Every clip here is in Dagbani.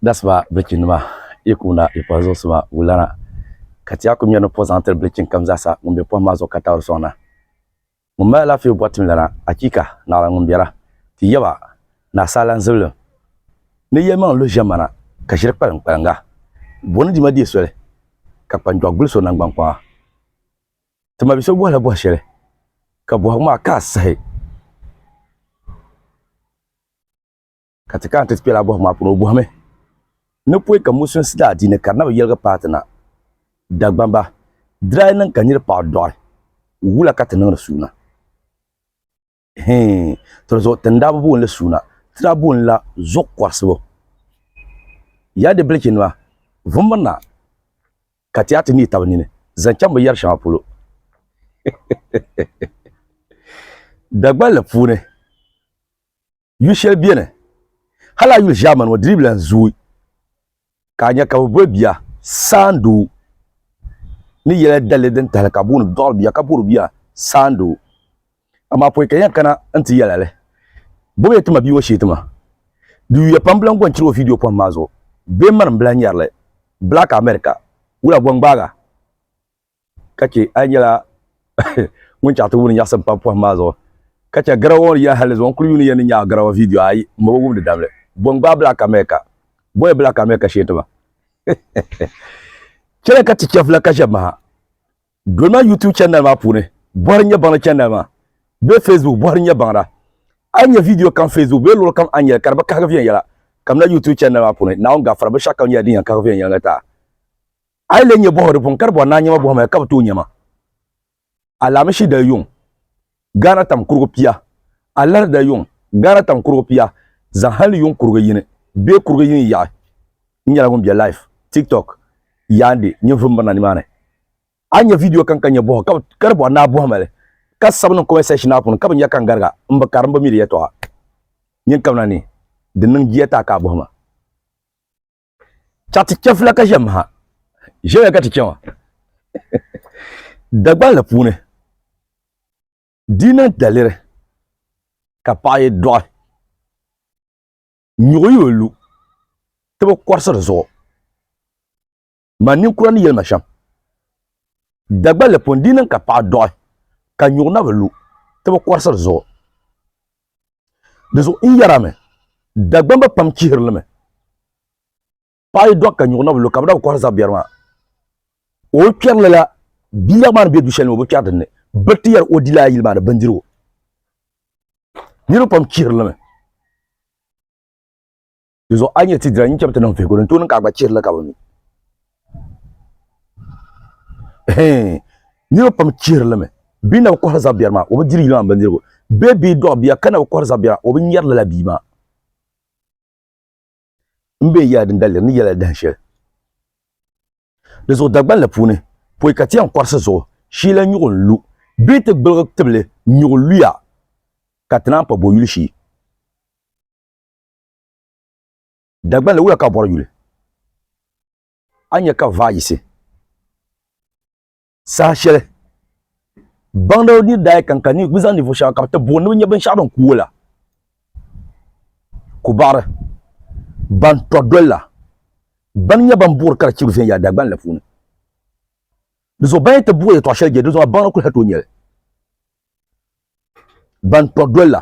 That's my breaking nima ikuna ipa zo suma wulana ka ti aku mɛni po zaŋ tiri breaking kam zaasa ŋun be pohim maa zuɣu ka taɣiri soŋna ŋun mali alaafee bɔri tim lana achiika naɣila ŋun bɛra ti yaba ni asaala zibilim ni yɛlimaŋli luhi ʒemana ka ʒiri kpalim kpalinga bo ni dima deei soli ka kpanjɔɣu gbuli so nangban kpaŋa ti ma bi so bɔhila bɔhi shɛli ka bɔhigu maa ka a sahi Ka ti kana ti ti kpɛla a bɔhigu maa puuni, o bɔhimi ni pɔi ka Musulinsi daa di ni ka di na bi yɛligi paati na Dagbamba diraai niŋ ka niri paɣi dɔɣi wula ka ti niŋdi suuna? Hii, to di zuɣu ti ni daa bi booni li suuna, ti daa booni la zuɣu kɔrisibu. Ya di bilichi nima, vumbirina ka ti yaa ti neei taba nini zaŋ chaŋ bi yari shɛŋa polo. Dagballi puuni. yuli shɛli beni hali a yuli ʒɛmani ŋɔ diribi lan zooi ka a nya ka bɛ boli bia saandoo ni yɛla dalli din tahili ka booni dɔɣiri bia ka boli bia saandoo amaa pɔi ka yɛn kana n-ti yɛla li bɔbi ya tima bia ŋɔ shee tima di yuya pam bɛ lan gɔnchiri o viidiyo pɔhim maa zuɣu bee mani m-bi lan nyari li Black America wula bɔŋgbaaga ka chɛ a nyɛla ŋun chaɣ ti wumdi nyaɣisim pam pɔhim maa zuɣu, ka chɛ garawa ŋɔ ni yɛn hali zuɣu n kul yuuni yɛn ni nyaɣi garawa vidiyo ayi m-bo bi wumdi dabili. Bɔŋ gbaai Black America, Bɔya Black America shee ti ba. Chɛliya ka ti chɛ vila ka ʒɛbimaha doli ma YouTube channel maa puuni bɔhiri Nyɛbaŋda channel maa bee Facebook bɔhiri Nyɛbaŋda. A yi nya vidiyo kam Facebook bee luɣili kam a ni nyɛli ka di bi kahigi viɛnyɛla, kamina YouTube channel maa puuni Naawuni Gafara binshɛɣukam nyɛla din yɛn kahigi viɛnyɛliŋga taa. a yi le nyɛ bɔhiri puuni ka di bɔri naa nyɛma bɔhimaya ka bi tooi nyɛma alaamishi dali yuŋ gaana tam kurigu pia alahari dali yuŋ gaana tam kurigu pia zaŋ hali ni yuŋ kurigu yini bee kurigu yini yaɣi n nyɛla ŋun bɛ live tiktok yaandi nyinvum birina nimaani a nyɛ vidiyo kan ka nyɛ bɔhi ka di bɔri naa bɔhimali ka sabi niŋ comment section maa puuni ka bi nya ka n gariga n bi kari n bi mi di yɛtɔɣa nyin kamina ni di niŋ jiya taa ka a bɔhima Chaɣ ti chɛ fula ka ʒɛ maha. Ʒɛya ka ti chɛ ma. Dagbaŋ la puuni dina daliri ka paɣa yi dɔɣi nyuɣi o lu ti bi kɔrisi di zuɣu ma ninkura ni yɛlima shɛm Dagbaŋ la puuni dina ka paɣa dɔɣi ka nyuɣi na bi lu ti bi kɔrisi di zuɣu Di zuɣu n yɛra mi, Dagbamba pam chihiri li mi. Paɣa yi dɔɣi ka nyuɣu na bi lu ka bi na bi kɔhiri zabiɛri maa, o yi kpɛri lala biilag maa ni be du shɛli ni o bi kpɛri din ni, bɛ ti yɛli o dila a yili maa ni bindirigu. Niriba pam chihiri li mi. Di zuɣu a nyɛ ti dira n-chɛb ti niŋ vihigu din tooi niŋ ka a gba chihiri li ka bi mi. Hɛɛn, niriba pam chihiri li mi. Bɛ na bi kɔhiri zab biɛri maa, o bi diri yino maa bindirigu. Bee bɛ dɔɣi bia ka na bi kɔhiri zab biɛri maa, o bi nyari lala bia maa. M bee yɛla din daliri ni yɛla dahin shɛli. Di zuɣu Dagban la puuni, pɔi ka ti yɛn kɔrisi zuɣu shii la nyuɣu n-lu bee ti gbiligi tibili nyuɣu luya ka ti naan pa bɔyuli shii. Dagbanli wuya ka bɔri yuli. A nya ka vaa yisi. Saha shɛli baŋda ni daa kan ka bɛ zaŋ ninvuɣ shɛba ka bɛ ti booni ni bɛ nya binshɛɣu din kuui la, ku baɣiri ban tɔri doli la bɛn nyɛ ban buɣiri ka di chibi viɛnyɛla Dagbanli la puuni. Di zuɣu bɛn yi ti buɣi yɛtɔɣ shɛli je, dinzuɣu maa baŋda kul hal tooi nya li. Ban tɔri doli la.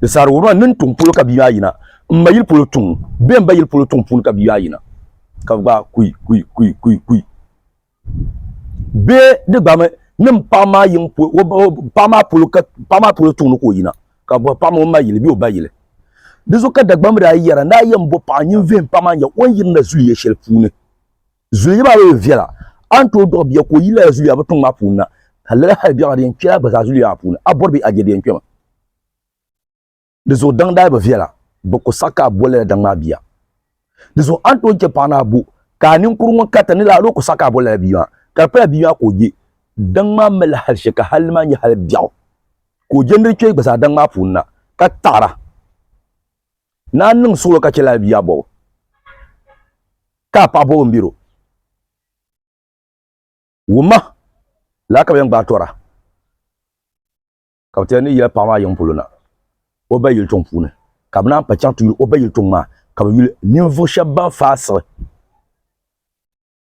Di saɣiri wuhiri ma nini tuŋ polo ka bia maa yina, m ma yili polo tuŋ, bee m ba yili polo tuŋ puuni ka bia maa yina, ka bɛ gbaai kui, kui, kui, kui, kui. Bee di gbami ni m paɣa maa yiŋ paɣa maa polo ka paɣa maa polo tuŋ ni ka o yina, ka bɔhi paɣa maa o ma yili bee o ba yili. Di zuɣu ka Dagbamba daa yɛra, N daa yɛn bo paɣa nyin vihim paɣa maa n-nya o ni yirina zuliya shɛli puuni. Zuliya maa bi yi viɛla, a ni tooi dɔɣi bia ka o yi lala zuliya bi tiŋ maa puuni na, ka lala hali biɛɣu di yɛn kpela gba zaa zuliya maa puuni, a bɔri bee a je di yɛn kpema? Di zuɣu daŋ daa bi viɛla, bi ku saɣi ka a bo lala daŋ maa bia. Di zuɣu a ni tooi chɛ paɣa ni a bo ka a ninkuri ŋɔ karita ni lala o ku saɣi ka a bo lala bia maa, ka di pala bia maa ka o je daŋ maa malila hali shɛli ka hali di maa nyɛ hali biɛɣu ka o je ni di kpe gba zaa daŋ maa puuni na, ka taɣira. Naa n-niŋ suɣulo ka chɛli alibia bɔbu, ka a paɣa bɔbu m-biri o. Wumma lala ka bɛ yɛn gbaai tɔra, ka bɛ ti yɛn ni yɛli paɣa maa yiŋ polo na o ba yili tuŋ puuni, ka bɛ naan pa chaŋ ti yuli o ba yili tuŋ maa, ka bɛ yuli ninvuɣ shɛb bɛn faai siɣi.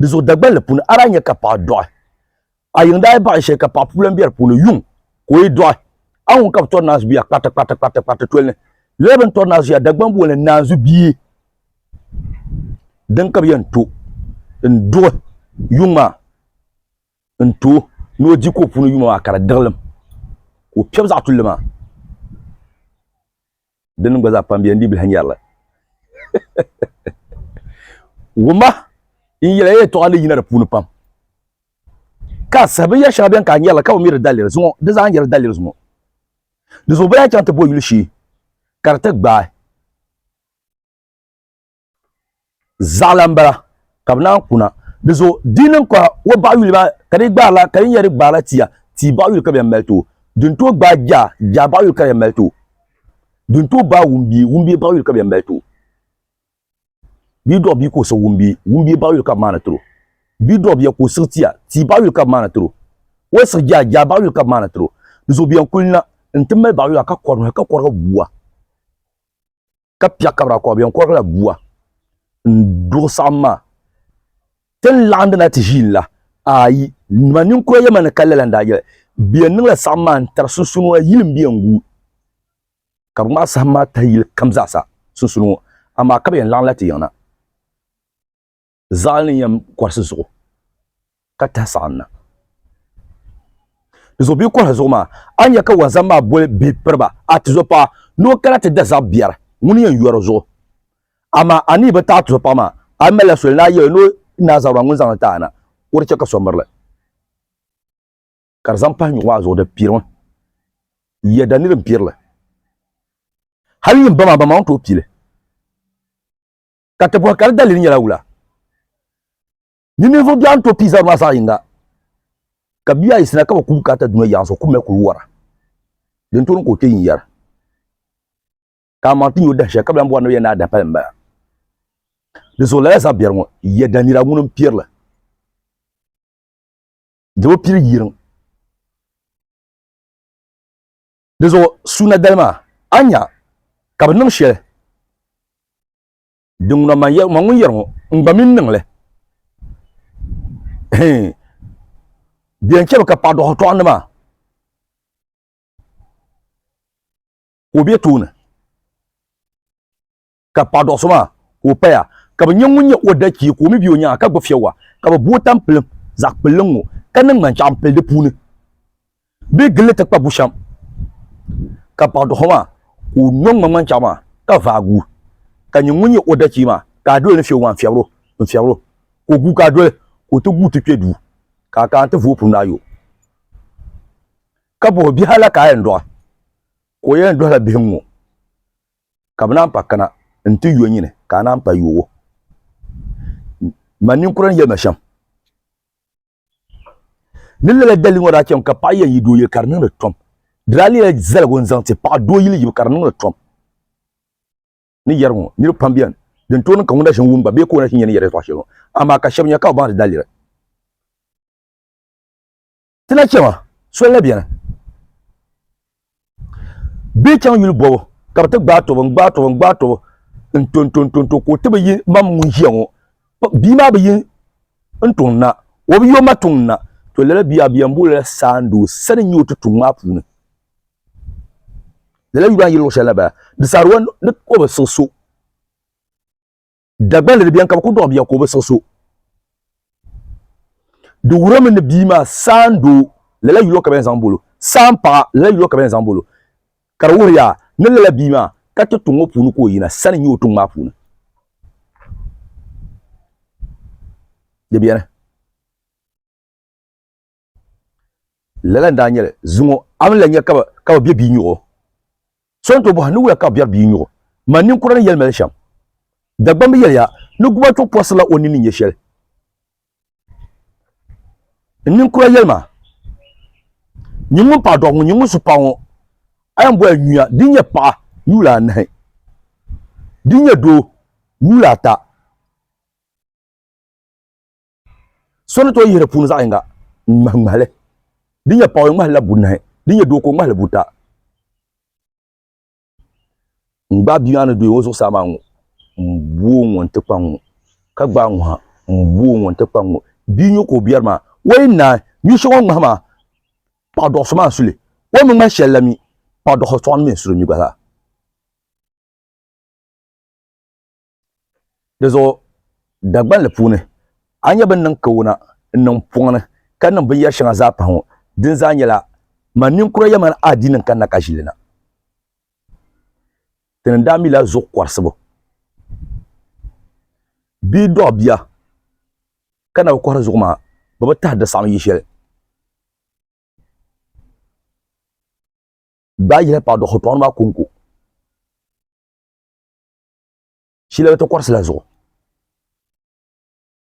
Di zuɣu Dagbanli puuni a daa nya ka paɣa dɔɣi. A yiŋ daa yi baɣi shɛli ka paɣa puulan be di puuni, yuŋ ka o yi dɔɣi. A ŋun ka bɛ tɔri naanzu bia kpariti kpariti kpariti kpariti toli ni. Lala bɛ ni tɔri naanzu shɛli Dagban booni ni naanzu bia din ka bɛ yɛn to n-duɣi yuŋ maa n-ti o ni o di ka o puuni yuma maa ka di diɣilim ka o piɛbi zaɣ tulli maa. Di nim gba zaa pam bɛ n di bihi nyɛri li. Wumma n yɛli ya yɛtɔɣa ni yina di puuni pam ka a sahi binyɛri shɛŋa bɛn ka a nyɛri li ka bi mi di daliri zuŋɔ di zaa nyɛri daliri zuŋɔ. Di zuɣu bɛ lahi chaŋ ti bo yuli shee ka di ti gbaai. zaɣila n bala ka bi naan kuna di zo di niŋ ka o baɣa yuli maa ka di gbaarila ka di nyɛri gbaarila tia tia baɣa yuli ka bi yɛn mali too din too gbaai jaa jaa baɣa yuli ka di yɛn mali too din too gbaai wumbie wumbie baɣa yuli ka bi yɛn mali too bidɔɣu bia ka o siɣi wumbie wumbie baɣa yuli ka bi maani tiro bidɔɣu bia ka o siɣi tia tia baɣa yuli ka bi maani tiro o siɣi jaa jaa baɣa yuli ka bi maani tiro di zo bi yɛn kuli na n ti mali baɣa yuli ka kɔri ka kɔrigi bua ka pia kabra kɔɣa bɛn kɔɣa la bua n duɣu saɣam maa ti ni laɣandi na ti ʒiin la ayi nima ninkura yɛma ni ka lala n daa yɛli bɛ yɛn niŋla saɣam maa n tari sunsuuni ŋɔ yili n bɛ yɛn gu ka bi ŋmaai saɣam maa tahi yili kam zaasa sunsuuni ŋɔ amaa ka bi yɛn laɣamla ti yiŋ na zaɣali ni yɛm kɔrisi zuɣu ka tahi saɣim na di zuɣu bia kɔrisi zuɣu maa a ni nya ka wanzam maa boli bia piriba a tizo paɣa ni o kana ti da zaɣ biɛri ŋuni yɛn yɔri zuɣu amaa a ni bi taɣi tizo paɣa maa a ni malila soli ni a yɛli ni o naa zaɣ maa ŋuni zaŋli taɣi na ka o di chɛ ka so mirili ka di zaŋ pahi nyuɣu maa zuɣu di pirimi ya da niri n pirili hali yin ba maa ba maa ŋun tooi pili ka ti bɔhi ka di dalili nyɛla wula. Ni ninvuɣ biɛɣu ni tooi pii zabiri maa zaɣ yinga, ka bia ayi sina ka bi kuli kaata dunia yaɣisi, o kummi kuli wara. Din tooni ka o kpe n-yɛra ka amaŋ ti nya o dahi shɛli ka bi lan bɔri ni bɛ yɛn ni a dahi pali m-bala. Di zuɣu lala zabiɛri ŋɔ yɛ Danira ŋuni m-piɛri li dama o pili yiriŋ. Di zuɣu suuna dali maa, a ni nya ka bɛ niŋ shɛli din ŋuna man yɛri, man ŋun yɛri ŋɔ, n gba mi ni niŋ li. Hii! Di yɛn chɛmi ka paɣidɔɣitɔɣinli maa ka o be tooni. ka paɣa dɔɣi so maa ka o paya ka bi nyɛ ŋun nyɛ o dachia ka o mi bɛ o nyaanga ka gbubi fiɛwa ka bi booi tampilim zaɣ kpulli ŋ-ŋɔ ka niŋ ŋmanchaɣu m-pili di puuni bɛ gilli ti kpa bushɛm ka paɣa dɔɣi so maa ka o nyɔ ŋma ŋmanchaɣu maa ka vaagi o ka nyɛ ŋun nyɛ o dachia maa ka a doli ni fiɛwu maa n-fiɛbir o n-fiɛbir o ka o guui ka a doli ka o ti guui ti kpe duu ka a kana ti vu o punu ni a yo ka bɔh o bihi hal a ka a yɛn dɔɣi ka o yɛn dɔhila bihi ŋ-ŋɔ. ka bɛ naan pa kana nti yo nyini ka a naan pa yo o. Man ninkura n yɛli ma shɛm ni lala dalili ŋɔ daa chɛm ka paɣa yɛn yi doo yili ka di niŋdi tom. Di daa leela zaligu n zaŋ ti paɣa doo yili yibu ka di niŋdi tom. Ni yɛri ŋɔ niriba pam beni din tooi niŋ ka ŋun na ʒini wum gba bee ka o na ʒini yɛli ni yɛri ya tɔɣu shɛli ŋɔ amaa ka shɛba nya ka bɛ baŋ di dalili. ti na chɛma soli la bɛni bɛ chaŋ yuli bɔbu ka bi ti gbaai tɔbu n gbaai tɔbu n gbaai tɔbu n to n to n to n to ka o ti bi yi mam ŋun ʒiya ŋɔ bia maa bi yi n tuŋ na o bi yo ma tuŋ na to lala bia bia n boolila saandoo sani n nyɛ o ti tuŋ maa puuni lala yuli maa yi luɣu shɛli na bala di saari wa ni o bi siɣi so Dagbanli di biɛni ka bi ku dɔɣi bia ka o bi siɣi so. Di wuhirimi ni bia maa saan doo lala yuli o ka bɛn zaŋ bolo, saan paɣa lala yuli o ka bɛn zaŋ bolo. Ka di wuhiri yaa ni lala bia maa ka ti tuŋ ŋɔ puuni ka o yina sani n-nyɛ o tuŋ maa puuni. Di biɛni. Lala n-daa nyɛli zuŋɔ a mi la nya ka bɛ be bia nyuɣu. So n-tooi bɔhi, Niwula ka bɛ biɛri bia nyuɣu? Mani ninkura ni yɛli ma li shɛm. Dagbamb yɛliya ni guba chuɣu pɔrisirila o nini ni nya shɛli. N ninkura yɛli ma, Nyin ŋun paɣ dɔɣu ŋɔ, nyin ŋun su paɣ ŋɔ, a yɛn boli nyuya din nyɛ paɣa nyuula anahi, din nyɛ doo nyuula ata. So ni tooi yihi di puuni zaɣ yinga n-ŋmahi ŋmahili. Di nyɛ paɣa o ŋmahila bunahi, di nyɛ doo ka o ŋmahili buta. N gbaai bia maa ni dooi o zuɣusaa maa ŋɔ, m bo o ŋɔ nti kpa ŋɔ, ka gbaai ŋɔ ha, m bo o ŋɔ nti kpa ŋɔ. Bia nyo ka o biɛri maa, o yi naai nyu shɛŋa o ni ŋmahi maa, paɣ dɔɣi so maa n-su li. O ni bi ŋmahi shɛli la mi, paɣ dɔɣi so sɔɣim ni mi n-su li mi gba zaa. Dizuɣu Dagbanli puuni, a ni nya bɛ ni niŋ kawuna n-niŋ m pɔŋ ni ka niŋ binyɛr shɛŋa zaa pahi ŋɔ, dini zaa nyɛla man ninkura yɛlmaŋli adiini n-kanna ka ʒi li na. Ti ni daa mila zuɣu kɔrisibu bee dɔɣi bia ka na bi kɔhiri zuɣu maa, bɛ bi tahi di saɣim yi shɛli. Bɛ daa yihila paɣidɔɣiripɔɣiri maa kɔŋko. shila ti kɔrisi la zuɣu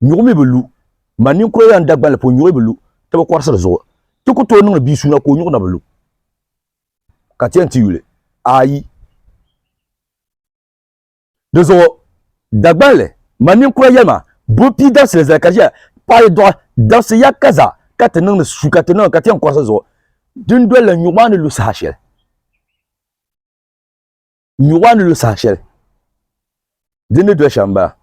nyuɣu mi bi lu ma ninkura yan dagbanli po nyuɣu bi lu ti bi kɔrisi di zuɣu ti ku tooi niŋdi bia suuna ka o nyuɣu na bi lu ka ti yɛn ti yuli ayi di zuɣu dagbanli ma ninkura yɛlima bo pii dabisili zali ka ʒiya paɣi dɔɣi dabisi ya ka za ka ti niŋdi su ka ti niŋdi ka ti yɛn kɔrisi zuɣu dindoli la nyuɣu maa ni lu saha shɛli nyuɣa ni lu saha shɛli din ni doli shɛm baa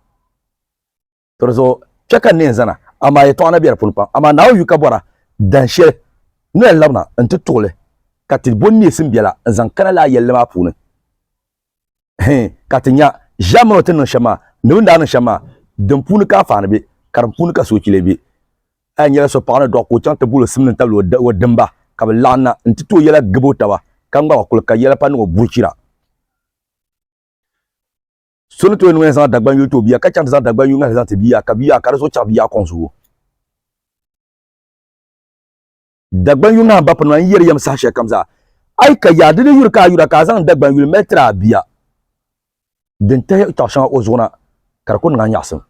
tiri zuɣu kpɛ ka n neen zana amaa yɛtɔɣa na bɛ di puuni pam amaa Naawuni yu ka bɔra dan shɛli ni na labina n ti tuɣili ka ti bo neesim biɛla n zaŋ kana lala yɛlli maa puuni hɛn ka ti nya ʒiɛm mini o ti niŋ shɛm maa ni bini daa niŋ shɛm maa din puuni ka anfaani bɛ ka din puuni ka soochi lee bɛ A yi nyɛla so paɣa ni dɔɣi ka o chaŋ ti guuri simdi n-tabili o dimba, ka bɛ laɣim na nti tooi yɛla gib o taba, ka ŋmaba kul ka yɛla pa niŋ o bulichira. So ni tooi niŋ ya zaŋ Dagbaŋ yuli ti o bia, ka chaŋ ti zaŋ Dagbaŋ yuli ŋahili zaŋ ti bia, ka bia ka di zuɣu chaɣi bia kɔŋ zuɣu. Dagban yuli nahi bapuni maa n-yɛri yɛm saha shɛli kam zaa. A yi ka yaɣa di ni yuri ka a yura ka a zaŋ dagban yuli mali tiri a bia din tahi tɔɣu shɛŋa o zuɣu na ka di ku niŋ a nyaɣisim.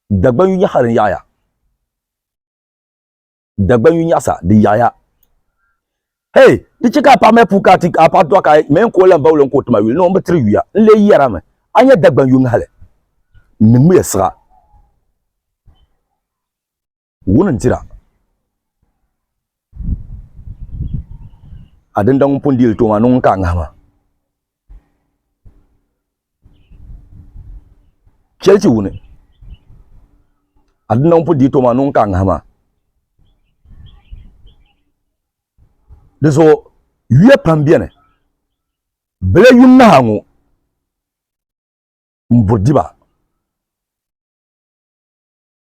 Dagban yu nyaɣisa din yaɣi ya. Dagban yu nyaɣisa din yaɣi ya. Hei, di chɛ ka a paɣa mali puu ka a ti a paɣa dɔɣi ka mɛ n-ka o lan bauli n-ka o tima yuli ni o bi tiri yuya. N lee yɛrimi, a nya dagban yu ŋahili ni ŋmiya siɣa. Wuni n-tira a dinda ŋun pun deei li tooma ni ŋun ka a ŋahi maa? Chɛli ti wuni a dinda ŋun pun deei tooma ni ŋun ka a ŋahi maa? Di zuɣu yuya pam beni. Bela yu naha ŋɔ m-buri di ba.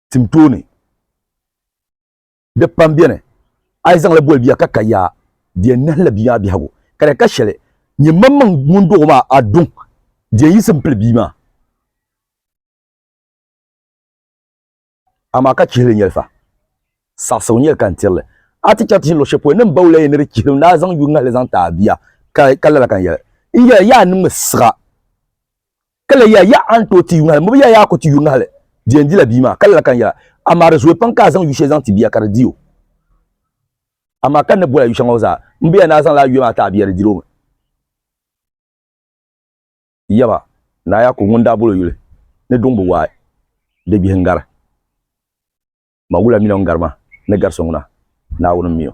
tim tooni. Di pam beni a yi zaŋla boli bia ka ka yaa di yɛn nahila bia maa biɛhigu ka di ka shɛli nyɛ maŋmaŋ ŋun dɔg o maa a duŋ di yɛn yiɣisi m-pili bia maa. Amaa ka chihili nyɛli fa, saɣisigu nyɛli ka n tiri li. A ti chɛ ti ʒini luɣ'shɛli polo ni m ba wula yɛn ni di chihili n daa zaŋ yuŋ ŋahili zaŋ ti a bia ka lala ka n yɛli, N yɛli yaa niŋmi siɣa. Ka lala yɛli, Yaɣa a ni tooi ti yuŋ hali, m bi yɛli yaa ku ti yuŋ hali, di yɛn dila bia maa. Ka lala ka n yɛla, Amaa di zooi pam ka a zaŋ yu shɛli zaŋ ti bia ka di di o. Amaa ka n ni boli a yu shɛŋa ŋɔ zaa, m bi yɛli ni a zaŋla a yuya maa ti a bia di diri o mi. Yaba, Naa Yaakubu ŋun daa bol o yuli ni duŋ bi waai, di bihi n-gari ma, wula mini o ni gari ma ni gari so ŋuna? Naawuni m-mi o.